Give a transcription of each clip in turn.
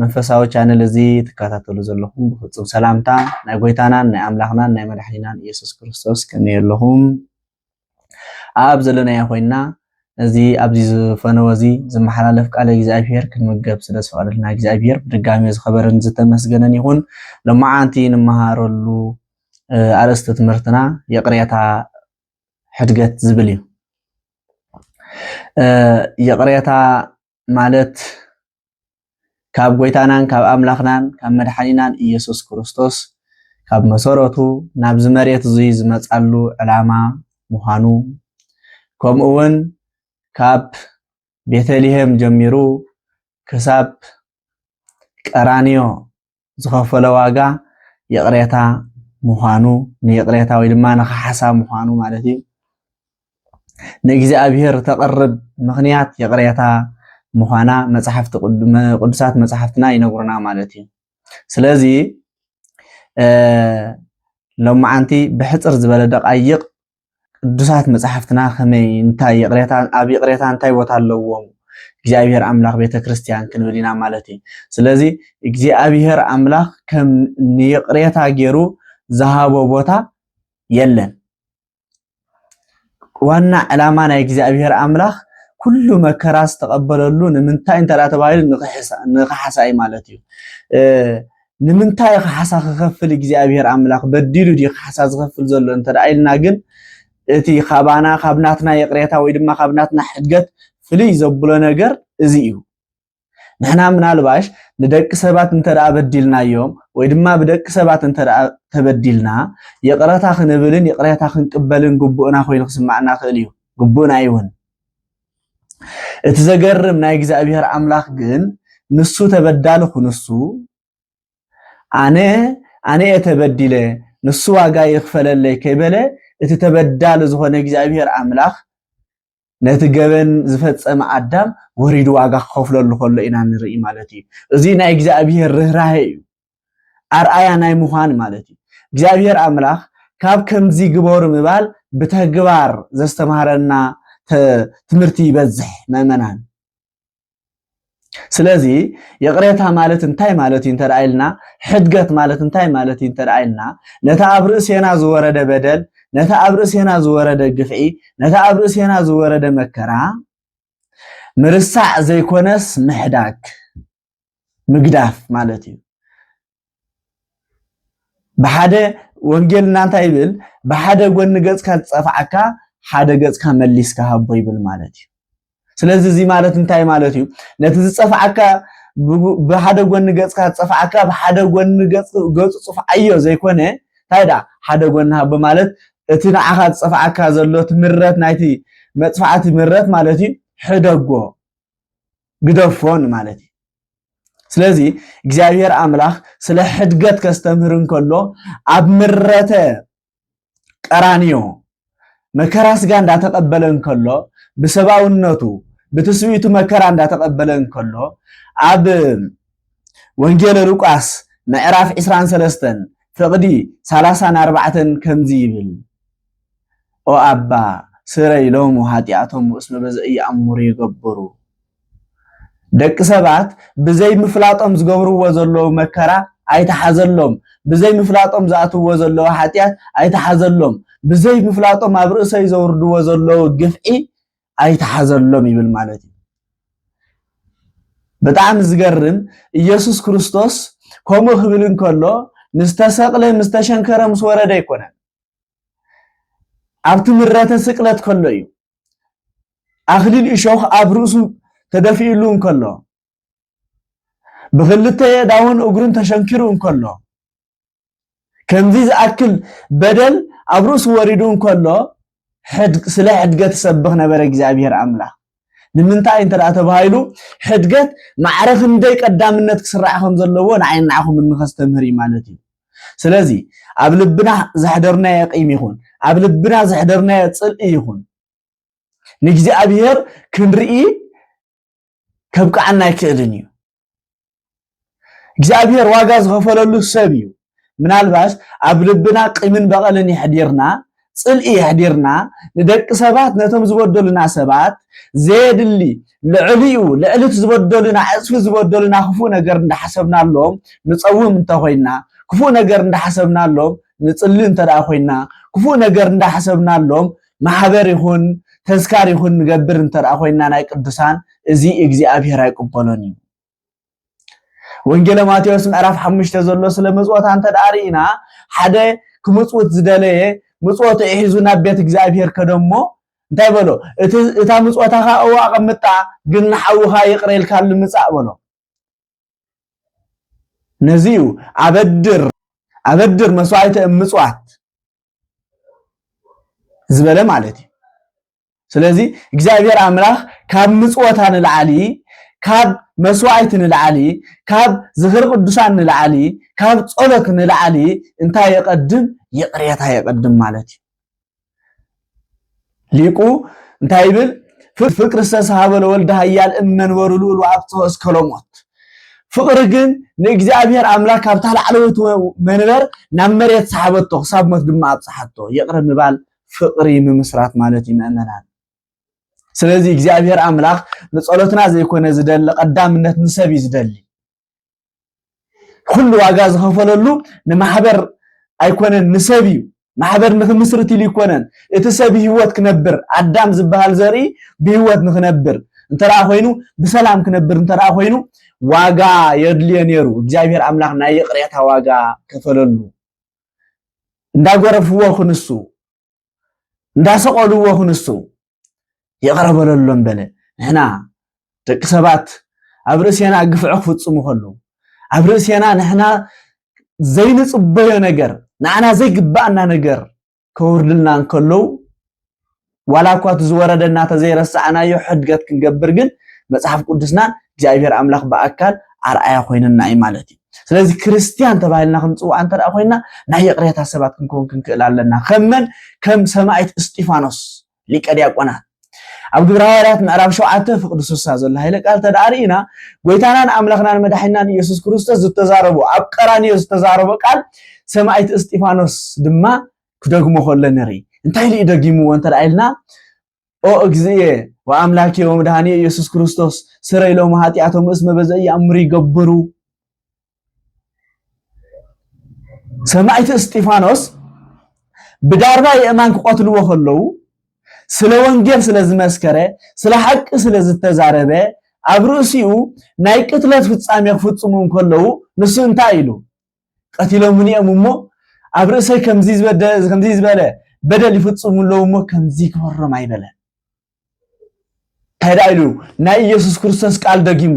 መንፈሳዊ ቻነል እዚ ትከታተሉ ዘለኹም ብፍጹም ሰላምታ ናይ ጎይታናን ናይ ኣምላኽናን ናይ መድሓኒናን ኢየሱስ ክርስቶስ ከመይ ኣለኹም ኣብ ዘለናዮ ኮይና እዚ ኣብዚ ዝፈነወ እዚ ዝመሓላለፍ ቃለ እግዚኣብሄር ክንምገብ ስለ ዝፈቐደልና እግዚኣብሄር ብድጋሚ ዝኸበረን ዝተመስገነን ይኹን ሎማዓንቲ ንመሃረሉ ኣርእስቲ ትምህርትና ይቕሬታ ሕድገት ዝብል እዩ ይቕሬታ ማለት ካብ ጎይታናን ካብ ኣምላኽናን ካብ መድሓኒናን ኢየሱስ ክርስቶስ ካብ መሰረቱ ናብዚ መሬት እዙይ ዝመፃሉ ዕላማ ምዃኑ ከምኡ እውን ካብ ቤተልሔም ጀሚሩ ክሳብ ቀራንዮ ዝኸፈሎ ዋጋ ይቕሬታ ምዃኑ ንይቕሬታ ወይ ድማ ንክሓሳብ ምዃኑ ማለት እዩ ንእግዚኣብሔር ተቕርብ ምኽንያት ይቕሬታ ምዃና መፅሓፍቲ ቅዱሳት መፅሓፍትና ይነግሩና ማለት እዩ ስለዚ ሎመዓንቲ ብሕፅር ዝበለ ደቃይቕ ቅዱሳት መጻሕፍትና ከመይ እንታይ ይቕሬታ ኣብ ይቕሬታ እንታይ ቦታ ኣለዎም እግዚኣብሔር ኣምላኽ ቤተ ክርስቲያን ክንብል ኢና ማለት እዩ ስለዚ እግዚኣብሔር ኣምላኽ ከም ንይቕሬታ ገይሩ ዝሃቦ ቦታ የለን ዋና ዕላማ ናይ እግዚኣብሔር ኣምላኽ ኩሉ መከራ ዝተቐበለሉ ንምንታይ እንተ ተባሂሉ ንክሓሳ እዩ ማለት እዩ ንምንታይ ካሕሳ ክኸፍል እግዚኣብሔር ኣምላኽ በዲሉ ድዩ ካሕሳ ዝኸፍል ዘሎ እንተ ኢልና ግን እቲ ካባና ካብ ናትና ይቕሬታ ወይ ድማ ካብ ናትና ሕድገት ፍልይ ዘብሎ ነገር እዚ እዩ ንሕና ምናልባሽ ንደቂ ሰባት እንተ በዲልናዮም ወይ ድማ ብደቂ ሰባት እንተ ተበዲልና ይቕረታ ክንብልን ይቕሬታ ክንቅበልን ግቡእና ኮይኑ ክስማዕና ክእል እዩ ግቡእና ይውን እቲ ዘገርም ናይ እግዚኣብሔር ኣምላኽ ግን ንሱ ተበዳሊ ኩንሱ ኣነ ኣነ እየ ተበዲለ ንሱ ዋጋ ይኽፈለለይ ከይበለ እቲ ተበዳሊ ዝኾነ እግዚኣብሔር ኣምላኽ ነቲ ገበን ዝፈጸመ ኣዳም ወሪዱ ዋጋ ክኸፍለሉ ከሎ ኢና ንርኢ ማለት እዩ። እዚ ናይ እግዚኣብሔር ርኅራሄ እዩ። ኣርኣያ ናይ ምዃን ማለት እዩ። እግዚኣብሔር ኣምላኽ ካብ ከምዚ ግበሩ ምባል ብተግባር ዘስተምሃረና ትምህርቲ ይበዝሕ መእመናን። ስለዚ ይቕሬታ ማለት እንታይ ማለት እዩ እንተ ኢልና ሕድገት ማለት እንታይ ማለት እዩ እንተ ኢልና ነቲ ኣብ ርእሴና ዝወረደ በደል ነቲ ኣብ ርእሴና ዝወረደ ግፍዒ ነቲ ኣብ ርእሴና ዝወረደ መከራ ምርሳዕ ዘይኮነስ ምሕዳግ ምግዳፍ ማለት እዩ ብሓደ ወንጌልና እንታይ ይብል ብሓደ ጎኒ ገጽካ ዝጸፍዓካ ሓደ ገጽካ መሊስካ ሃቦ ይብል ማለት እዩ ስለዚ እዚ ማለት እንታይ ማለት እዩ ነቲ ዝጸፍዓካ ብሓደ ጎኒ ገጽካ ዝጸፍዓካ ብሓደ ጎኒ ገጹ ጽፍዓዮ ዘይኮነ እንታይ ደኣ ሓደ ጎኒ ሃቦ ማለት እቲ ንዓኻ ዝጸፍዓካ ዘሎ እቲ ምረት ናይቲ መጥፋዕቲ ምረት ማለት እዩ ሕደጎ ግደፎ ማለት እዩ። ስለዚ እግዚኣብሔር ኣምላኽ ስለ ሕድገት ከስተምህር እንከሎ ኣብ ምረተ ቀራንዮ መከራ ስጋ እንዳተቐበለ እንከሎ ብሰብኣውነቱ ብትስብእቱ መከራ እንዳተቐበለ እንከሎ ኣብ ወንጌለ ሉቃስ ምዕራፍ 23 ፍቕዲ 34 ከምዚ ይብል ኦ ኣባ ስረይ ሎሙ ኃጢኣቶሙ እስመ በዘኢየኣምሩ ይገብሩ። ደቂ ሰባት ብዘይ ምፍላጦም ዝገብርዎ ዘለዉ መከራ ኣይተሓዘሎም፣ ብዘይ ምፍላጦም ዝኣትውዎ ዘለዉ ኃጢኣት ኣይተሓዘሎም፣ ብዘይ ምፍላጦም ኣብ ርእሰይ ዘውርድዎ ዘለዉ ግፍዒ ኣይተሓዘሎም ይብል ማለት እዩ። ብጣዕሚ ዝገርም ኢየሱስ ክርስቶስ ከምኡ ክብል እንከሎ ምስ ተሰቕለ ምስ ተሸንከረ ምስ ወረደ ኣይኮነን። ኣብቲ ምረተ ስቅለት ከሎ እዩ። ኣኽሊል እሾኽ ኣብ ርእሱ ተደፊእሉ እንከሎ ብኽልተ የዳውን እግሩን ተሸንኪሩ እንከሎ ከምዚ ዝኣክል በደል ኣብ ርእሱ ወሪዱ እንከሎ ስለ ሕድገት ሰብኽ ነበረ እግዚኣብሔር ኣምላኽ። ንምንታይ እንተ ተባሂሉ ሕድገት ማዕረ ክንደይ ቀዳምነት ክስራዕ ከም ዘለዎ ንዓይን ንዓኹምን ንኸስተምህር እዩ ማለት እዩ። ስለዚ ኣብ ልብና ዘሕደርናዮ ቂም ይኹን ኣብ ልብና ዘሕደርናዮ ጽልኢ ይኹን ንእግዚኣብሔር ክንርኢ ከብቅዓና ኣይክእልን እዩ። እግዚኣብሔር ዋጋ ዝኸፈለሉ ሰብ እዩ ምናልባስ ኣብ ልብና ቂምን በቐልን የሕዲርና ጽልኢ የሕዲርና ንደቂ ሰባት ነቶም ዝበደሉና ሰባት ዘየድሊ ልዕሊኡ ልዕልቲ ዝበደሉና ዕፅፊ ዝበደሉና ክፉእ ነገር እንዳሓሰብናሎም ንፀውም እንተኮይና ክፉእ ነገር እንዳሓሰብናሎም ንፅሊ እንተደኣ ኮይና ክፉእ ነገር እንዳሓሰብናሎም ማሕበር ይኹን ተዝካር ይኹን ንገብር እንተ ኮይንና ናይ ቅዱሳን እዚ እግዚኣብሔር ኣይቅበሎን እዩ። ወንጌለ ማቴዎስ ምዕራፍ ሓሙሽተ ዘሎ ስለ ምጽወታ እንተ ርኢና ሓደ ክምጽውት ዝደለየ ምጽወቱ ሒዙ ናብ ቤት እግዚኣብሔር ከደ እሞ እንታይ በሎ እታ ምጽወታኻ እዋ ኣቐምጣ ግን ንሓውኻ ይቕረ ኢልካሉ ምጻእ በሎ ነዚ እዩ ኣበድር ኣበድር መስዋዕተ እምፅዋት ዝበለ ማለት እዩ ስለዚ እግዚኣብሔር ኣምላኽ ካብ ምፅወታ ንላዓሊ ካብ መስዋዕቲ ንላዓሊ ካብ ዝኽሪ ቅዱሳን ንላዓሊ ካብ ፀሎት ንላዓሊ እንታይ የቐድም ይቕሬታ የቐድም ማለት እዩ ሊቁ እንታይ ይብል? ፍቅሪ ዝተስሃበ ለወልደ ሃያል እመንበሩ ልኡል ወኣብጽሖ እስከ ሎሞት ፍቅሪ ግን ንእግዚኣብሔር ኣምላክ ካብታ ላዕለወይቲ መንበር ናብ መሬት ሰሓበቶ ክሳብ ሞት ድማ ኣብጽሓቶ ይቅረ ምባል ፍቅሪ ምምስራት ማለት እዩ ምእመናን ስለዚ እግዚኣብሔር ኣምላክ ንጸሎትና ዘይኮነ ዝደሊ ቀዳምነት ንሰብ እዩ ዝደሊ ኩሉ ዋጋ ዝኸፈለሉ ንማሕበር ኣይኮነን ንሰብ እዩ። ማሕበር ንክምስርት ኢሉ ኣይኮነን እቲ ሰብ ህይወት ክነብር ኣዳም ዝበሃል ዘርኢ ብህይወት ንክነብር እንተደኣ ኮይኑ ብሰላም ክነብር እንተደኣ ኮይኑ ዋጋ የድልዮ ነይሩ። እግዚኣብሔር ኣምላኽ ናይ ይቕሬታ ዋጋ ከፈለሉ። እንዳጎረፍዎ ክንሱ እንዳሰቐልዎ ክንሱ ይቕረ በለሎም በለ። ንሕና ደቂ ሰባት ኣብ ርእሴና ግፍዒ ክፍጽሙ ከለዉ ኣብ ርእሴና ንሕና ዘይንጽበዮ ነገር ንዓና ዘይግባኣና ነገር ከውርድልና እንከለዉ ዋላ እኳ እቲ ዝወረደና ተዘይረሳዕናዮ ሕድገት ክንገብር ግን መጽሓፍ ቅዱስና እግዚኣብሔር ኣምላኽ ብኣካል ኣርኣያ ኮይነና እዩ ማለት እዩ። ስለዚ ክርስትያን ተባሂልና ክንፅዋዕ እንተ ኮይና ናይ ይቕሬታ ሰባት ክንከውን ክንክእል ኣለና ከም መን ከም ሰማዒት እስጢፋኖስ ሊቀ ዲያቆናት ኣብ ግብረ ሃዋርያት ምዕራብ ሸውዓተ ፍቕዲ ስሳ ዘሎ ሃይለ ቃል ተደኣ ርኢና ጎይታናን ኣምላኽናን መድሓኒናን ኢየሱስ ክርስቶስ ዝተዛረቦ ኣብ ቀራንዮ ዝተዛረቦ ቃል ሰማዒት እስጢፋኖስ ድማ ክደግሞ ከሎ ንርኢ እንታይ ኢሉ እዩ ደጊምዎ እንተ ኢልና ኦ እግዚእየ ወአምላኬ ወመድኃኔ ኢየሱስ ክርስቶስ ስረይ ሎሙ ኃጢአቶም እስመ በዘኢ ይአምሩ ይገብሩ። ሰማዕቲ እስጢፋኖስ ብዳርባ የእማን ክቐትልዎ ከለዉ ስለ ወንጌል ስለ ዝመስከረ ስለ ሓቂ ስለ ዝተዛረበ ኣብ ርእሲኡ ናይ ቅትለት ፍጻሜ ክፍጽሙ እንከለዉ ንሱ እንታይ ኢሉ ቀቲሎሙኒ እዮም እሞ ኣብ ርእሰይ ከምዚ ዝበለ በደል ይፍጽሙ ኣለዉ እሞ ከምዚ ይግበሮም ኣይበለን እንታይ ደኣ ኢሉ ናይ ኢየሱስ ክርስቶስ ቃል ደጊሙ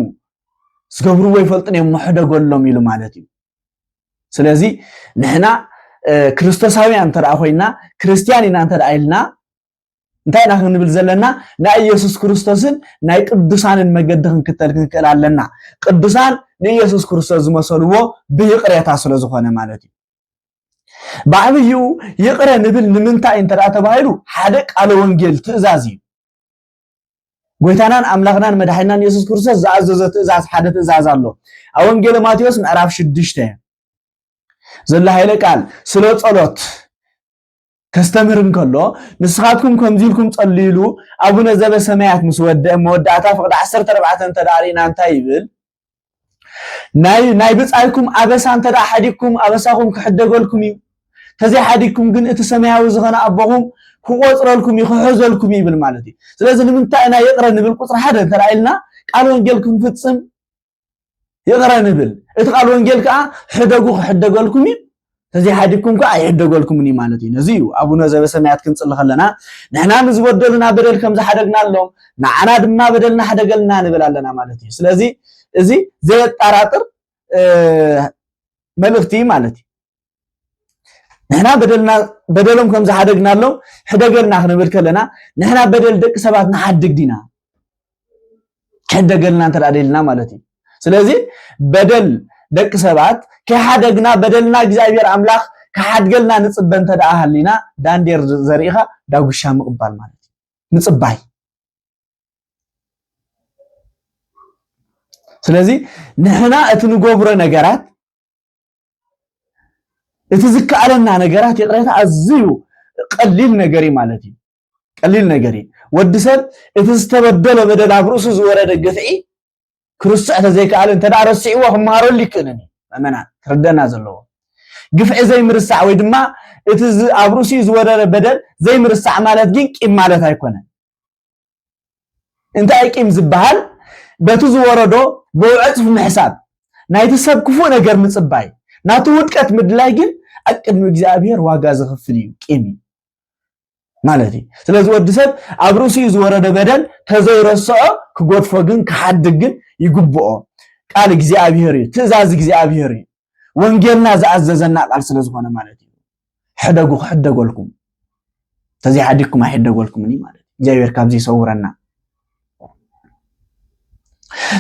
ዝገብርዎ ይፈልጡን እዮም መሕደጎሎም ኢሉ ማለት እዩ ስለዚ ንሕና ክርስቶሳውያን እንተ ኮይና ክርስትያን ኢና እንተ ኢልና እንታይ ኢና ክንብል ዘለና ናይ ኢየሱስ ክርስቶስን ናይ ቅዱሳንን መገዲ ክንክተል ክንክእል ኣለና ቅዱሳን ንኢየሱስ ክርስቶስ ዝመሰልዎ ብይቕሬታ ስለ ዝኾነ ማለት እዩ ብዓብዩ ይቕረ ንብል ንምንታይ እንተ ተባሂሉ ሓደ ቃለ ወንጌል ትእዛዝ እዩ ጎይታናን ኣምላኽናን መድሓይናን ኢየሱስ ክርስቶስ ዝኣዘዞ ትእዛዝ ሓደ ትእዛዝ ኣሎ ኣብ ወንጌለ ማቴዎስ ምዕራፍ ሽዱሽተ ዘሎ ሃይለ ቃል ስለ ጸሎት ከስተምህር እንከሎ ንስኻትኩም ከምዚ ኢልኩም ጸልዩ ኢሉ ኣቡነ ዘበሰማያት ምስ ወደአ መወዳእታ ፍቕዲ ዓሰርተ ኣርባዕተ እንተ ደኣ ርኢና እንታይ ይብል? ናይ ናይ ብጻይኩም ኣበሳ እንተ ደኣ ሓዲግኩም ኣበሳኹም ክሕደገልኩም እዩ። ተዘይ ሓዲግኩም ግን እቲ ሰማያዊ ዝኾነ ኣቦኹም ክቆጽረልኩም እዩ ክሕዘልኩም ይብል ማለት እዩ። ስለዚ ንምንታይ ኢና ይቕረ ንብል ቁጽሪ ሓደ እንተ ኢልና ቃል ወንጌል ክንፍጽም ይቕረ ንብል እቲ ቃል ወንጌል ከዓ ሕደጉ ክሕደገልኩም እዩ ተዘይሓዲግኩም ከዓ ኣይሕደገልኩምን እዩ ማለት እዩ ነዚ እዩ ኣቡነ ዘበሰማያት ክንፅሊ ከለና ንሕና ንዝበደሉና በደል ከም ዝሓደግናሎም ንዓና ድማ በደልና ሓደገልና ንብል ኣለና ማለት እዩ ስለዚ እዚ ዘየጠራጥር መልእኽቲ ማለት እዩ ንሕና በደልና በደሎም ከም ዝሓደግናሎም ሕደገልና ክንብል ከለና ንሕና በደል ደቂ ሰባት ንሓድግ ዲና ሕደገልና እንተ ደልና ማለት እዩ ስለዚ በደል ደቂ ሰባት ከይሓደግና በደልና እግዚኣብሔር ኣምላኽ ክሓድገልና ንፅበ እንተ ደኣ ሃሊና ዳንዴር ዘሪእኻ ዳጉሻ ምቕባል ማለት እዩ ምፅባይ ስለዚ ንሕና እቲ ንገብሮ ነገራት እቲ ዝከኣለና ነገራት ይቕሬታ ኣዝዩ ቀሊል ነገር እዩ ማለት እዩ ቀሊል ነገር እዩ ወዲ ሰብ እቲ ዝተበደሎ በደል ኣብ ርእሱ ዝወረደ ግፍዒ ክርስዕ ተዘይከኣለ እንተ ረሲዕዎ ክመሃረሉ ይክእልን እዩ መመና ክርደና ዘለዎ ግፍዒ ዘይምርሳዕ ወይ ድማ እቲ ኣብ ርእሱ ዝወረደ በደል ዘይምርሳዕ ማለት ግን ቂም ማለት ኣይኮነን እንታይ እዩ ቂም ዝበሃል? በቲ ዝወረዶ ብውዕጽፍ ምሕሳብ፣ ናይቲ ሰብ ክፉእ ነገር ምጽባይ፣ ናቱ ውድቀት ምድላይ ግን ኣብ ቅድሚ እግዚኣብሔር ዋጋ ዘኽፍል እዩ፣ ቂም እዩ ማለት እዩ። ስለዚ ወዲ ሰብ ኣብ ርእሲኡ ዝወረደ በደል ተዘይረስዖ ክጎድፎ ግን ክሓድግ ግን ይግብኦ። ቃል እግዚኣብሔር እዩ፣ ትእዛዝ እግዚኣብሔር እዩ። ወንጌልና ዝኣዘዘና ቃል ስለ ዝኾነ ማለት እዩ ሕደጉ ክሕደጎልኩም ተዘይሓዲግኩም ኣይሕደጎልኩምን እዩ ማለት እዩ እግዚኣብሔር ካብዚ ይሰውረና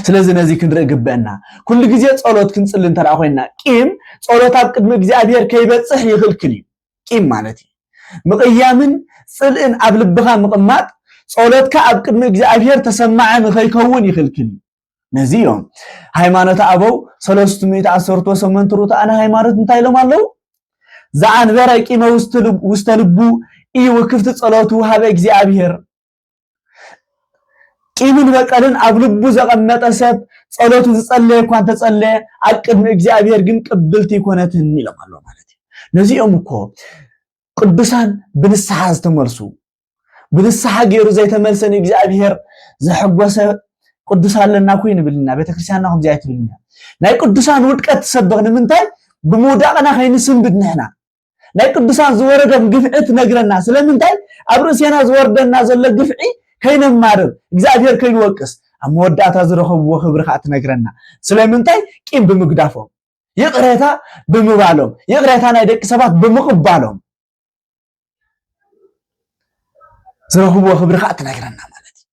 ስለዚ ነዚ ክንርኢ ግበአና ኩሉ ግዜ ጸሎት ክንጽሊ እንተ ኮይና ቂም ጸሎት ኣብ ቅድሚ እግዚኣብሔር ከይበፅሕ ይኽልክል እዩ ቂም ማለት እዩ ምቕያምን ጽልእን ኣብ ልብኻ ምቕማጥ ጸሎትካ ኣብ ቅድሚ እግዚኣብሔር ተሰማዐ ንኸይከውን ይኽልክል እዩ ነዚ እዮም ሃይማኖት ኣበው ሰለስቱ ሚእቲ ኣሰርቶ ሰመንቲ ርቱዓን ሃይማኖት እንታይ ኢሎም ኣለዉ ዘኣንበረ ቂመ ውስተ ልቡ እዩ ውክፍቲ ጸሎቱ ሃበ እግዚኣብሔር ቂምን በቀልን ኣብ ልቡ ዘቐመጠ ሰብ ጸሎቱ ዝጸለየ እኳ እንተጸለየ ኣብ ቅድሚ እግዚኣብሔር ግን ቅብልቲ ይኮነትን ኢሎም ኣሎ ማለት እዩ ነዚኦም እኮ ቅዱሳን ብንስሓ ዝተመልሱ ብንስሓ ገይሩ ዘይተመልሰ ንእግዚኣብሔር ዘሐጎሰ ቅዱስ ኣለና ኮይ ንብልና ቤተክርስትያንና ከምዚ ኣይትብልና ናይ ቅዱሳን ውድቀት ትሰብኽ ንምንታይ ብምውዳቕና ከይንስንብድ ንሕና ናይ ቅዱሳን ዝወረዶም ግፍዒ ትነግረና ስለምንታይ ኣብ ርእሴና ዝወርደና ዘሎ ግፍዒ ከይነማርር እግዚኣብሔር ከይንወቅስ ኣብ መወዳእታ ዝረኸብዎ ክብሪ ከዓ ትነግረና ስለምንታይ ቂም ብምግዳፎም ይቕሬታ ብምባሎም ይቕሬታ ናይ ደቂ ሰባት ብምቕባሎም ዝረኽብዎ ክብሪ ከዓ ትነግረና ማለት እዩ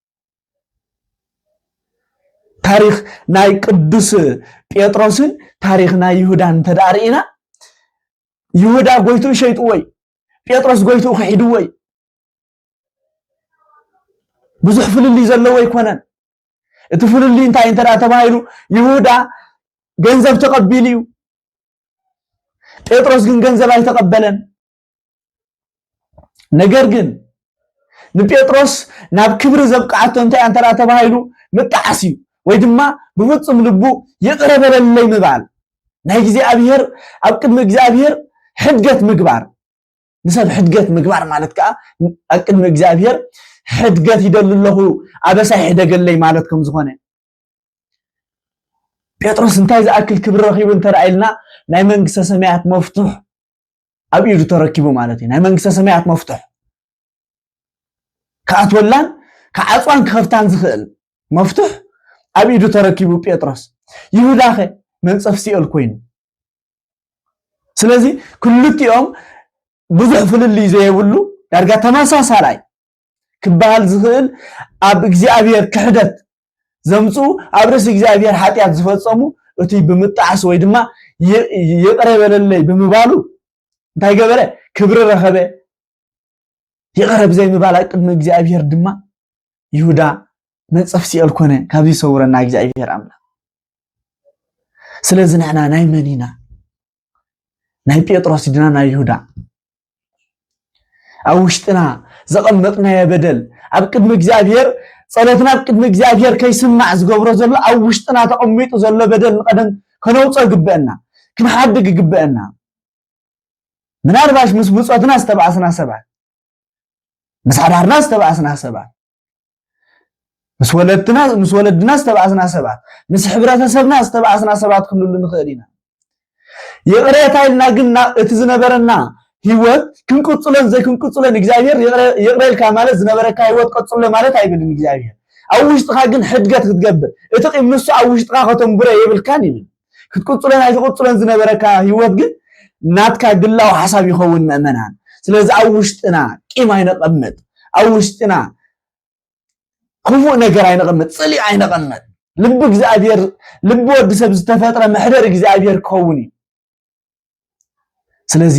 ታሪክ ናይ ቅዱስ ጴጥሮስን ታሪክ ናይ ይሁዳን እንተደኣ ርኢና ይሁዳ ጎይትኡ ሸይጥዎ እዩ ጴጥሮስ ጎይትኡ ክሒድዎ እዩ ብዙሕ ፍልልይ ዘለዎ ኣይኮነን እቲ ፍልልይ እንታይ እንተ ተባሂሉ ይሁዳ ገንዘብ ተቐቢሉ እዩ ጴጥሮስ ግን ገንዘብ ኣይተቐበለን። ነገር ግን ንጴጥሮስ ናብ ክብሪ ዘብቅዓቶ እንታይ እንተ ተባሂሉ ምጣዓስ እዩ ወይ ድማ ብፍፁም ልቡ ይቕረ በለለይ ምባል ናይ እግዚኣብሔር ኣብ ቅድሚ እግዚኣብሔር ሕድገት ምግባር ንሰብ ሕድገት ምግባር ማለት ከዓ ኣብ ቅድሚ እግዚኣብሔር ሕድገት ይደሊ ኣለኹ ኣበሳይ ሕደገለይ ማለት ከም ዝኾነ ጴጥሮስ እንታይ ዝኣክል ክብሪ ረኺቡ እንተረኣይልና ናይ መንግስተ ሰማያት መፍቱሕ ኣብ ኢዱ ተረኪቡ ማለት እዩ ናይ መንግስተ ሰማያት መፍቱሕ ክኣትወላን ክዓፅዋን ክኸፍታን ዝኽእል መፍቱሕ ኣብ ኢዱ ተረኪቡ ጴጥሮስ ይሁዳኸ መንፀፍ ሲኦል ኮይኑ ስለዚ ክልቲኦም ብዙሕ ፍልልይ ዘየብሉ ዳርጋ ተመሳሳላይ ክበሃል ዝኽእል ኣብ እግዚኣብሔር ክሕደት ዘምጽኡ ኣብ ርእሲ እግዚኣብሔር ሓጢኣት ዝፈጸሙ እቱይ ብምጣዕሱ ወይ ድማ ይቕረ በለለይ ብምባሉ እንታይ ገበረ ክብሪ ረኸበ ይቕረ ብዘይ ምባል ኣብ ቅድሚ እግዚኣብሔር ድማ ይሁዳ መንጸፍ ሲኦል ኮነ ካብዚ ይሰውረና እግዚኣብሔር ኣምላኽ ስለዚ ንሕና ናይ መን ኢና ናይ ጴጥሮስ ድና ናይ ይሁዳ ኣብ ውሽጥና ዘቐመጥናዮ በደል ኣብ ቅድሚ እግዚኣብሔር ጸሎትና ኣብ ቅድሚ እግዚኣብሔር ከይስማዕ ዝገብሮ ዘሎ ኣብ ውሽጥና ተቐሚጡ ዘሎ በደል ንቐደም ከነውጾ ይግበአና ክንሓድግ ይግበአና ምናልባሽ ምስ ብጾትና ዝተባእስና ሰባት ምስ ሓዳርና ዝተባእስና ሰባት ምስ ወለድና ምስ ወለድና ዝተባእስና ሰባት ምስ ሕብረተሰብና ዝተባእስና ሰባት ክንሉ ንኽእል ኢና ይቕሬታ ኢልና ግን እቲ ዝነበረና ህይወት ክንቅፅሎን ዘይክንቅፅሎን እግዚኣብሔር ይቕረ ኢልካ ማለት ዝነበረካ ህይወት ቀፅሎ ማለት ኣይብልን እግዚኣብሔር ኣብ ውሽጥኻ ግን ሕድገት ክትገብር እቲ ቂም ንሱ ኣብ ውሽጥኻ ከተንብሮ የብልካን ይብል ክትቅጽሎን ኣይትቅጽሎን ዝነበረካ ህይወት ግን ናትካ ግላዊ ሓሳብ ይኸውን መእመናን ስለዚ ኣብ ውሽጥና ቂም ኣይነቐምጥ ኣብ ውሽጥና ክፉእ ነገር ኣይነቐምጥ ፅልኢ ኣይነቐምጥ ልቢ እግዚኣብሔር ልቢ ወዲ ሰብ ዝተፈጥረ መሕደር እግዚኣብሔር ክኸውን እዩ ስለዚ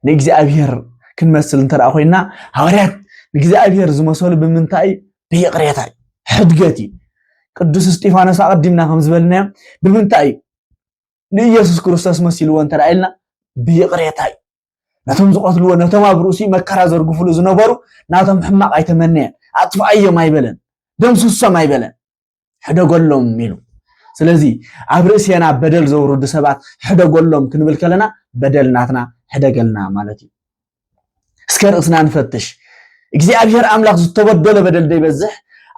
ንእግዚኣብሔር ክንመስል እንተ ኮይና ሃዋርያት ንእግዚኣብሔር ዝመሰሉ ብምንታይ እዩ ብይቕሬታ እዩ ሕድገት እዩ ቅዱስ እስጢፋኖስ ኣቐዲምና ከም ዝበልናዮ ብምንታይ እዩ ንኢየሱስ ክርስቶስ መሲልዎ እንተ ኢልና ብይቕሬታ እዩ ነቶም ዝቐትልዎ ነቶም ኣብ ርእሲ መከራ ዘርግፍሉ ዝነበሩ ናቶም ሕማቕ ኣይተመነየን ኣጥፍኣዮም ኣይበለን ደምስሶም ኣይበለን ሕደጎሎም ኢሉ ስለዚ ኣብ ርእሴና በደል ዘውርዱ ሰባት ሕደጎሎም ክንብል ከለና በደል ናትና ሕደገልና ማለት እዩ እስከ ርእስና ንፈትሽ እግዚኣብሔር ኣምላኽ ዝተበደሎ በደል ዘይበዝሕ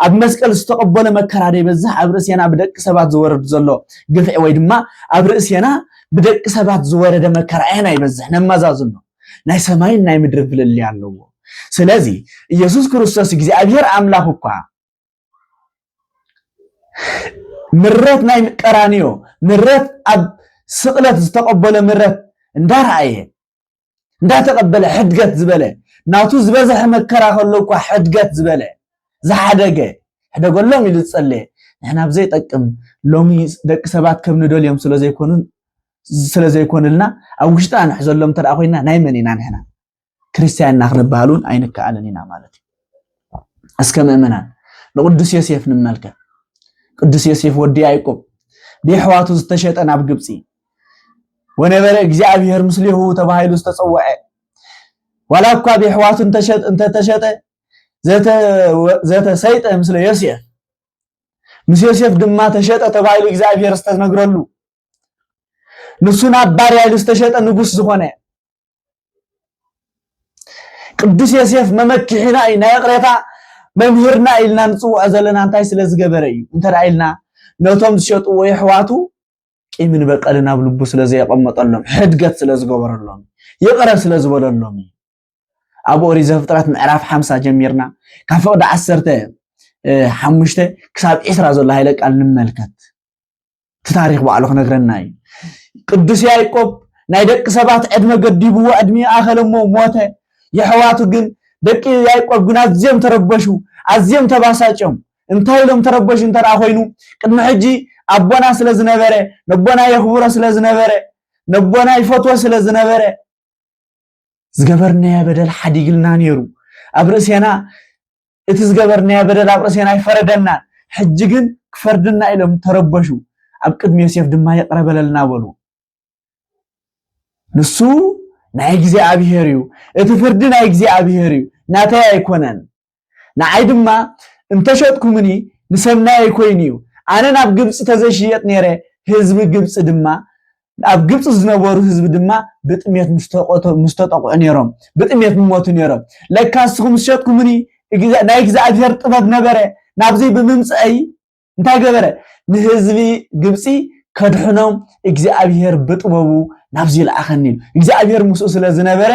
ኣብ መስቀል ዝተቐበሎ መከራ ዘይበዝሕ ኣብ ርእሴና ብደቂ ሰባት ዝወረድ ዘሎ ግፍዒ ወይ ድማ ኣብ ርእሴና ብደቂ ሰባት ዝወረደ መከራ ኣየና ይበዝሕ ነመዛዝኖ ናይ ሰማይን ናይ ምድርን ፍልልይ ኣለዎ ስለዚ ኢየሱስ ክርስቶስ እግዚኣብሔር ኣምላኽ እኳ ምረት ናይ ቀራንዮ ምረት ኣብ ስቕለት ዝተቐበሎ ምረት እንዳረኣየ እንዳተቐበለ ሕድገት ዝበለ ናቱ ዝበዝሐ መከራ ከሎ እኳ ሕድገት ዝበለ ዝሓደገ ሕደገሎም ኢሉ ዝጸለየ ንሕና ብዘይጠቅም ሎሚ ደቂ ሰባት ከም ንደልዮም ስለ ዘይኮኑ ስለ ዘይኮንልና ኣብ ውሽጥና ንሕዘሎም እንተ ኮይንና ናይ መን ኢና ንሕና ክርስቲያን ኢና ክንበሃል እውን ኣይንከኣልን ኢና ማለት እዩ እስከ ምእመናን ንቅዱስ ዮሴፍ ንመልከ ቅዱስ ዮሴፍ ወዲ ያዕቆብ ብየሕዋቱ ዝተሸጠ ናብ ግብፂ ወነበረ እግዚኣብሔር ምስሌሁ ተባሂሉ ዝተፀወዐ ዋላ እኳ ብየሕዋቱ እንተተሸጠ ዘተሰይጠ ምስለ ዮሴፍ ምስ ዮሴፍ ድማ ተሸጠ ተባሂሉ እግዚኣብሔር ዝተነግረሉ ንሱ ናብ ባርያ ኢሉ ዝተሸጠ ንጉስ ዝኾነ ቅዱስ ዮሴፍ መመኪሒና እዩ ናይ ይቕሬታ መምህርና ኢልና ንፅውዖ ዘለና እንታይ ስለ ዝገበረ እዩ እንተ ኢልና ነቶም ዝሸጥዎ የሕዋቱ ቂምን በቀልን ኣብ ልቡ ስለ ዘየቐመጠሎም ሕድገት ስለ ዝገበረሎም ይቕረ ስለ ዝበለሎም እዩ ኣብ ኦሪት ዘፍጥረት ምዕራፍ ሓምሳ ጀሚርና ካብ ፍቕዲ ዓሰርተ ሓሙሽተ ክሳብ ዒስራ ዘሎ ሃይለ ቃል ንመልከት እቲ ታሪክ ባዕሉ ክነግረና እዩ ቅዱስ ያይቆብ ናይ ደቂ ሰባት ዕድመ ገዲብዎ ዕድሜ ኣኸለሞ ሞተ የሕዋቱ ግን ደቂ ያይቆብ ግን ኣዝዮም ተረበሹ ኣዝዮም ተባሳጭዮም እንታይ ኢሎም ተረበሹ እንተ ኮይኑ ቅድሚ ሕጂ ኣቦና ስለ ዝነበረ ነቦና የኽብሮ ስለ ዝነበረ ነቦና ይፈትዎ ስለ ዝነበረ ዝገበርናዮ በደል ሓዲግልና ነይሩ ኣብ ርእሴና እቲ ዝገበርናዮ በደል ኣብ ርእሴና ኣይፈረደናን ሕጂ ግን ክፈርድና ኢሎም ተረበሹ ኣብ ቅድሚ ዮሴፍ ድማ ይቕረ በለልና በሉ ንሱ ናይ እግዚኣብሄር እዩ እቲ ፍርዲ ናይ እግዚኣብሄር እዩ ናተይ ኣይኮነን ንዓይ ድማ እንተሸጥኩምኒ ንሰናየይ ኮይኑ እዩ ኣነ ናብ ግብጺ ተዘይሽየጥ ነይረ ህዝቢ ግብጺ ድማ ኣብ ግብጺ ዝነበሩ ህዝቢ ድማ ብጥሜት ምስተቆቶ ምስተጠቕዑ ነይሮም ብጥሜት ምሞቱ ነይሮም ለካ ንስኹም ዝሸጥኩምኒ ናይ እግዚኣብሔር ጥበብ ነበረ ናብዚ ብምምጽአይ እንታይ ገበረ? ንህዝቢ ግብፂ ከድሕኖም እግዚኣብሄር ብጥበቡ ናብዚ ለኣኸኒ ኢሉ እግዚኣብሄር ምስኡ ስለ ዝነበረ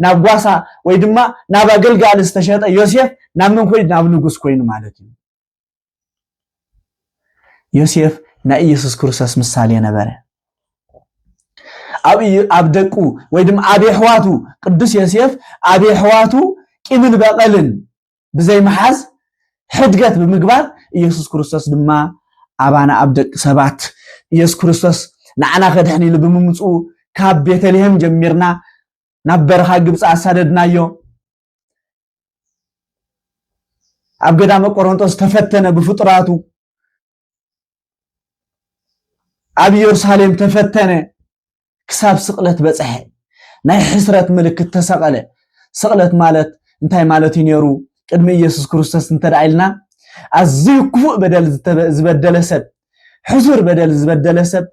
ናብ ጓሳ ወይ ድማ ናብ ኣገልጋሊ ዝተሸጠ ዮሴፍ ናብ መን ኮይኑ ናብ ንጉስ ኮይኑ ማለት እዩ ዮሴፍ ናይ ኢየሱስ ክርስቶስ ምሳሌ ነበረ ኣብ ኣብ ደቁ ወይ ድማ ኣብ የሕዋቱ ቅዱስ ዮሴፍ ኣብ የሕዋቱ ቂምን በቐልን ብዘይ ምሓዝ ሕድገት ብምግባር ኢየሱስ ክርስቶስ ድማ ኣባና ኣብ ደቂ ሰባት ኢየሱስ ክርስቶስ ንዓና ከድሕን ኢሉ ብምምፅኡ ካብ ቤተልሔም ጀሚርና ናብ በረኻ ግብፂ ኣሳደድናዮ ኣብ ገዳመ ቆሮንጦስ ተፈተነ ብፍጡራቱ ኣብ ኢየሩሳሌም ተፈተነ ክሳብ ስቕለት በጽሐ። ናይ ሕስረት ምልክት ተሰቐለ። ስቕለት ማለት እንታይ ማለት እዩ ነይሩ? ቅድሚ ኢየሱስ ክርስቶስ እንተ ደኣ ኢልና ኣዝዩ ክፉእ በደል ዝበደለ ሰብ ሕሱር በደል ዝበደለ ሰብ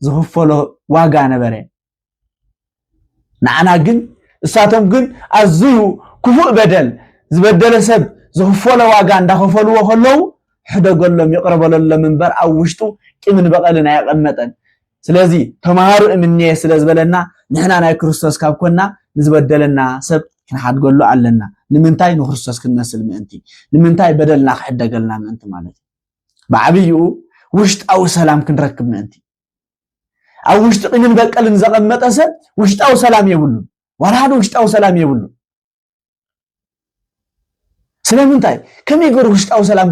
ዝኽፈሎ ዋጋ ነበረ። ንዓና ግን እሳቶም ግን ኣዝዩ ክፉእ በደል ዝበደለ ሰብ ዝኽፈሎ ዋጋ እንዳኸፈልዎ ከለዉ ሕደገሎም ይቕረበለሎም እምበር ኣብ ውሽጡ ቂምን በቐልን ኣየቐመጠን። ስለዚ ተማሃሩ እምኔ ስለ ዝበለና ንሕና ናይ ክርስቶስ ካብ ኮና ንዝበደለና ሰብ ክንሓድገሉ ኣለና ንምንታይ ንክርስቶስ ክንመስል ምእንቲ ንምንታይ በደልና ክሕደገልና ምእንቲ ማለት እዩ ብዓብይኡ ውሽጣዊ ሰላም ክንረክብ ምእንቲ ኣብ ውሽጢ ቂምን በቀልን ዘቐመጠ ሰብ ውሽጣዊ ሰላም የብሉን ዋላ ሓደ ውሽጣዊ ሰላም የብሉን ስለምንታይ ከመይ ገሩ ውሽጣዊ ሰላም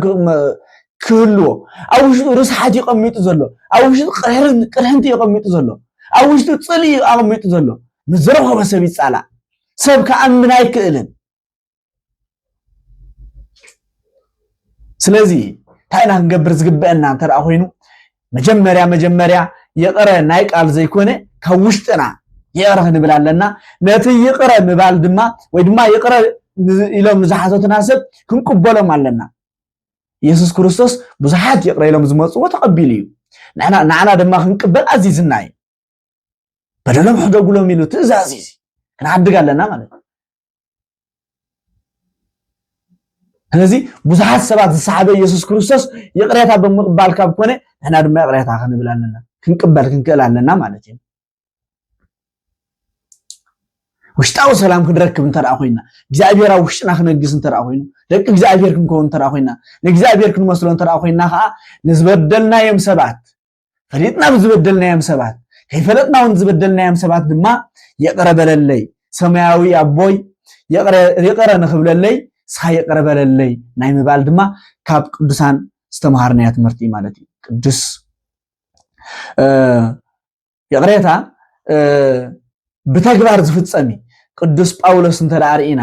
ክህልዎ ኣብ ውሽጡ ርስሓት እዩ ቀሚጡ ዘሎ ኣብ ውሽጡ ቅርሕንቲ እዩ ቀሚጡ ዘሎ ኣብ ውሽጡ ፅል እዩ ኣቐሚጡ ዘሎ ምስ ዝረኸበ ሰብ ይፃላእ ሰብ ክኣምን ኣይክእልን ስለዚ እንታይ ኢና ክንገብር ዝግበአና እንተ ኮይኑ መጀመርያ መጀመርያ ይቕረ ናይ ቃል ዘይኮነ ካብ ውሽጥና ይቕረ ክንብል ኣለና ነቲ ይቕረ ምባል ድማ ወይ ድማ ይቕረ ኢሎም ንዝሓተቱና ሰብ ክንቅበሎም ኣለና የሱስ ክርስቶስ ብዙሓት ይቕረ ኢሎም ዝመፅዎ ተቐቢሉ እዩ ንዓና ድማ ክንቅበል ኣዚዝና እዩ በደሎም ሕደጉሎም ኢሉ ትእዛዝ እዩ ክንሓድግ ኣለና ማለት እዩ ስለዚ ብዙሓት ሰባት ዝሰሓበ ኢየሱስ ክርስቶስ ይቕሬታ ብምቕባል ካብ ኮነ ንሕና ድማ ይቕሬታ ክንብል ኣለና ክንቅበል ክንክእል ኣለና ማለት እዩ ውሽጣዊ ሰላም ክንረክብ እንተ ኮይና እግዚኣብሔር ኣብ ውሽጥና ክነግስ እንተ ኮይኑ ደቂ እግዚኣብሔር ክንከውን እንተ ኮይና ንእግዚኣብሔር ክንመስሎ እንተ ኮይና ከዓ ንዝበደልናዮም ሰባት ፈሊጥና ንዝበደልናዮም ሰባት ከይፈለጥና እውን ዝበደልናዮም ሰባት ድማ ይቕረ በለለይ ሰማያዊ ኣቦይ ይቕረ ንክብለለይ ንስኻ ይቕረ በለለይ ናይ ምባል ድማ ካብ ቅዱሳን ዝተምሃርናዮ ትምህርቲ እዩ ማለት እዩ ቅዱስ ይቕሬታ ብተግባር ዝፍፀም እዩ ቅዱስ ጳውሎስ እንተ ርኢና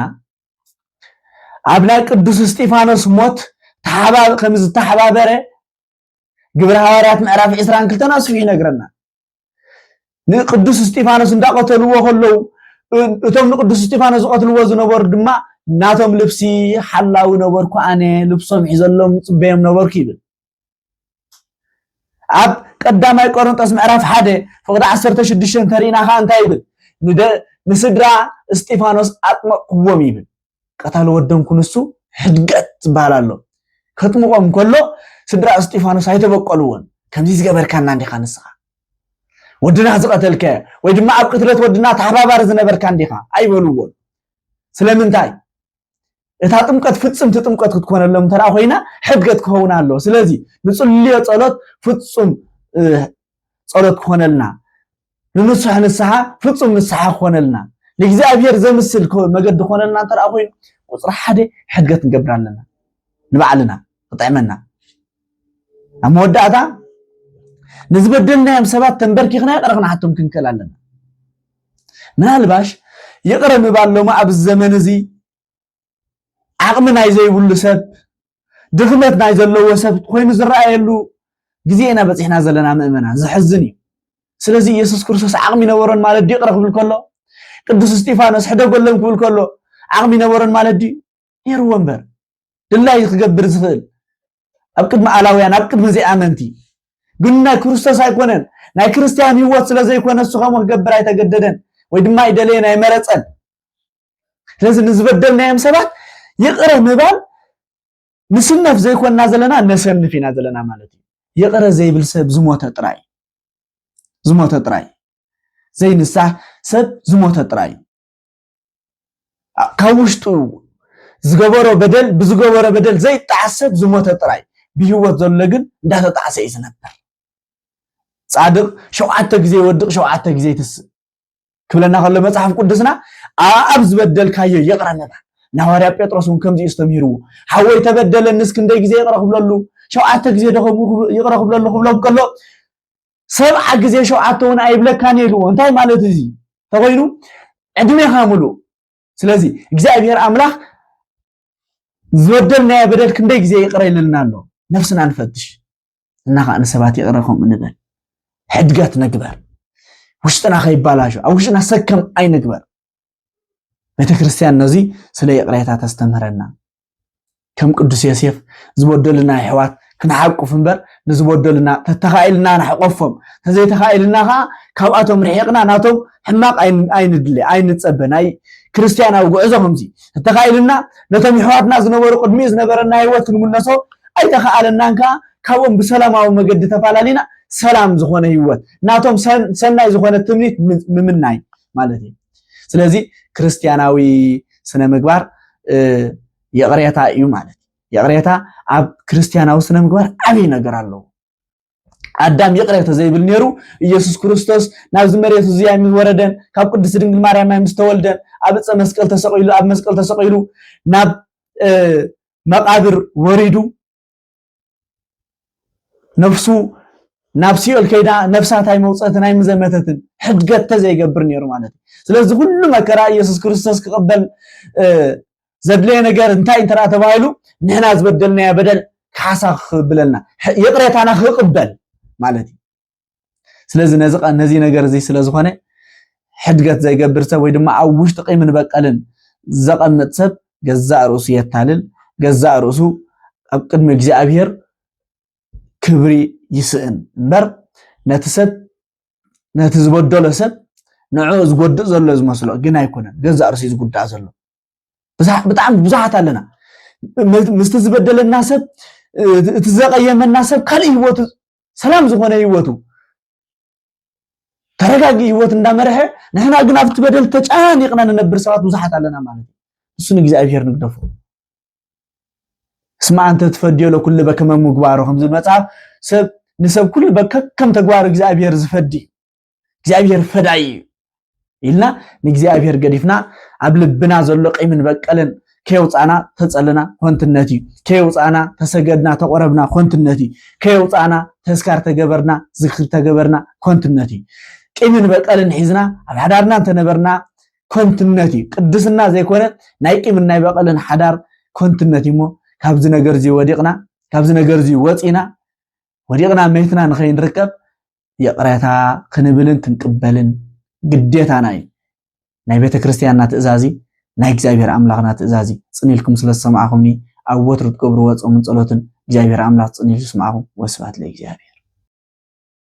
ኣብ ናይ ቅዱስ እስጢፋኖስ ሞት ከም ዝተሓባበረ ግብረ ሃዋርያት ምዕራፍ ዕስራን ክልተን ኣስፊሑ ይነግረና ንቅዱስ እስጢፋኖስ እንዳቀተልዎ ከለዉ እቶም ንቅዱስ እስጢፋኖስ ዝቀትልዎ ዝነበሩ ድማ ናቶም ልብሲ ሓላዊ ነበርኩ ኣነ ልብሶም ሒዘሎም ፅበዮም ነበርኩ ይብል ኣብ ቀዳማይ ቆሮንጦስ ምዕራፍ ሓደ ፍቅዲ ዓሰርተ ሽዱሽተ እንተሪእና ከዓ እንታይ ይብል ንስድራ እስጢፋኖስ ኣጥመቅዎም ይብል ቀታሊ ወዶም ክንሱ ሕድገት ዝበሃል ኣሎ ከጥምቆም ከሎ ስድራ እስጢፋኖስ ኣይተበቀልዎን ከምዚ ዝገበርካና እንዲኻ ንስኻ ወድና ዝቐተልከ ወይ ድማ ኣብ ቅትለት ወድና ተሓባባሪ ዝነበርካ እንዲኻ ኣይበልዎን ስለምንታይ እታ ጥምቀት ፍፅምቲ ጥምቀት ክትኮነሎም እንተ ኮይና ሕድገት ክኸውን ኣሎ ስለዚ ንፅልዮ ፀሎት ፍፁም ፀሎት ክኾነልና ንንሱሕ ንስሓ ፍጹም ንስሓ ክኾነልና ንእግዚኣብሔር ዘምስል መገዲ ክኾነልና እንተ ኮይኑ ቁፅሪ ሓደ ሕድገት ንገብር ኣለና ንባዕልና ክጥዕመና ኣብ መወዳእታ ንዝበደልናዮም ሰባት ተንበርኪኽና ይቕረ ክንሓቶም ክንክእል ኣለና ምናልባሽ ይቕረ ምባል ሎማ ኣብዚ ዘመን እዚ ዓቕሚ ናይ ዘይብሉ ሰብ፣ ድኽመት ናይ ዘለዎ ሰብ ኮይኑ ዝረኣየሉ ግዜ ኢና በጺሕና ዘለና ምእመናን፣ ዘሕዝን እዩ። ስለዚ ኢየሱስ ክርስቶስ ዓቕሚ ነበሮን ማለት ድዩ ይቕረ ክብል ከሎ? ቅዱስ እስጢፋኖስ ሕደጎሎም ክብል ከሎ ዓቕሚ ነበሮን ማለት ድዩ? ነይርዎ እምበር ድላዩ ክገብር ዝኽእል ኣብ ቅድሚ ኣላውያን ኣብ ቅድሚ ዘይኣመንቲ ግን ናይ ክርስቶስ ኣይኮነን ናይ ክርስትያን ህይወት ስለ ዘይኮነ እሱ ከምኡ ክገብር ኣይተገደደን ወይ ድማ ኣይደለየን ኣይመረፀን ስለዚ ንዝበደልናዮም ሰባት ይቕረ ምባል ንስነፍ ዘይኮንና ዘለና ነሰንፍ ኢና ዘለና ማለት እዩ ይቕረ ዘይብል ሰብ ዝሞተ ጥራይ ዝሞተ ጥራይ ዘይንሳህ ሰብ ዝሞተ ጥራይ ካብ ውሽጡ ዝገበሮ በደል ብዝገበሮ በደል ዘይጣዓስ ሰብ ዝሞተ ጥራይ ብሂወት ዘሎ ግን እንዳተጣዕሰ እዩ ዝነበር ጻድቕ ሸውዓተ ግዜ ይወድቕ ሸውዓተ ግዜ ይትስእ ክብለና ከሎ መጽሓፍ ቅዱስና ኣብ ዝበደልካዮ ይቕረ ምባል ናዋርያ ጴጥሮስ እውን ከምዚ እዩ ዝተምሂርዎ ሓወይ ተበደለ ንስ ክንደይ ግዜ ይቕረ ክብለሉ ሸውዓተ ግዜ ደኸሙ ይቕረ ክብለሉ ክብሎም ከሎ ሰብዓ ግዜ ሸውዓተ እውን ኣይብለካን ኢልዎ እንታይ ማለት እዚ ተኮይኑ ዕድሜኻ ምሉእ ስለዚ እግዚኣብሔር ኣምላኽ ዝበደልናዮ በደል ክንደይ ግዜ ይቕረ ይልልና ኣሎ ነፍስና ንፈትሽ እና ከዓ ንሰባት ይቕረ ከምኡ ንበል ሕድገት ነግበር ውሽጥና ከይባላሾ ኣብ ውሽጥና ሰከም ኣይንግበር ቤተክርስትያን ነዚ ስለ ይቕሬታ ተስተምህረና ከም ቅዱስ ዮሴፍ ዝበደሉና ኣሕዋት ክንሓቁፍ እምበር ንዝበደሉና ተተኻኢልና ንሕቆፎም ተዘይተኻኢልና ከዓ ካብኣቶም ርሒቕና ናቶም ሕማቕ ኣይንድለ ኣይንፀበ ናይ ክርስትያናዊ ጉዕዞ ከምዚ እንተኻኢሉና ነቶም የሕዋትና ዝነበሩ ቅድሚኡ ዝነበረና ሂወት ክንምለሶ ኣይተኻኣለናን ከኣ ካብኦም ብሰላማዊ መገዲ ተፋላሊና ሰላም ዝኾነ ሂወት ናቶም ሰናይ ዝኾነ ትምኒት ምምናይ ማለት እዩ ስለዚ ክርስትያናዊ ስነ ምግባር ይቕሬታ እዩ ማለት ይቕሬታ ኣብ ክርስትያናዊ ስነ ምግባር ዓብይ ነገር ኣለዎ ኣዳም ይቕረ ተዘይብል ነይሩ ኢየሱስ ክርስቶስ ናብዚ መሬት እዚኣ ምስ ወረደን ካብ ቅድስቲ ድንግል ማርያም ምስ ተወልደን ኣብ ዕፀ መስቀል ተሰቂሉ ኣብ መስቀል ተሰቂሉ ናብ መቃብር ወሪዱ ነፍሱ ናብ ሲኦል ከይዳ ነፍሳት ኣይመውፀትን ኣይምዘመተትን ሕድገት ተዘይገብር ነይሩ ማለት እዩ ስለዚ ኩሉ መከራ ኢየሱስ ክርስቶስ ክቕበል ዘድለየ ነገር እንታይ እንተ ተባሂሉ ንሕና ዝበደልናዮ በደል ካሓሳ ክብለና ይቕሬታና ክቕበል ማለት እዩ ስለዚ ነዚ ነገር እዚ ስለ ዝኾነ ሕድገት ዘይገብር ሰብ ወይ ድማ ኣብ ውሽጢ ቂምን በቀልን ዘቐምጥ ሰብ ገዛእ ርእሱ የታልል ገዛእ ርእሱ ኣብ ቅድሚ እግዚኣብሄር ክብሪ ይስእን እምበር ነቲ ሰብ ነቲ ዝበደሎ ሰብ ንዕኡ ዝጎድእ ዘሎ ዝመስሎ ግን ኣይኮነን ገዛእ ርእሱ ዝጉዳእ ዘሎ ብጣዕሚ ብዙሓት ኣለና ምስቲ ዝበደለና ሰብ እቲ ዘቐየመና ሰብ ካልእ ህይወቱ ሰላም ዝኾነ ህይወቱ ተረጋጊ ህይወት እንዳመርሐ ንሕና ግን ኣብቲ በደል ተጨናኒቕና ንነብር ሰባት ብዙሓት ኣለና ማለት እዩ እሱ ንእግዚኣብሔር ንግደፎ እስማ ኣንተ ትፈድዮ ለኩሉ በከመ ምግባሮ ከምዚ መጽሓፍ ሰብ ንሰብ ኩሉ በከከም ተግባር እግዚኣብሔር ዝፈዲ እግዚኣብሔር ፈዳይ እዩ ኢልና ንእግዚኣብሔር ገዲፍና ኣብ ልብና ዘሎ ቂምን በቀልን ከየውፃእና ተፀልና ኮንትነት እዩ ከየውፃእና ተሰገድና ተቆረብና ኮንትነት እዩ ከየውፃእና ተስካር ተገበርና ዝክሪ ተገበርና ኮንትነት እዩ ቂምን በቀልን ሒዝና ኣብ ሓዳርና እንተነበርና ኮንትነት እዩ ቅድስና ዘይኮነ ናይ ቂምን ናይ በቀልን ሓዳር ኮንትነት እዩ እሞ ካብዚ ነገር እዚ ወዲቕና ካብዚ ነገር እዚ ወፂና ወዲቕና መይትና ንኸይንርከብ ይቕረታ ክንብልን ክንቅበልን ግዴታና እዩ። ናይ ቤተ ክርስቲያንና ትእዛዝ እዩ። ናይ እግዚኣብሔር ኣምላኽና ትእዛዝ እዩ። ጽን ኢልኩም ስለ ዝሰማዕኹምኒ ኣብ ወትሩ ትገብርዎ ጾምን ጸሎትን እግዚኣብሔር ኣምላኽ ጽን ኢሉ ይስማዕኹም። ወስብሐት ለእግዚኣብሔር።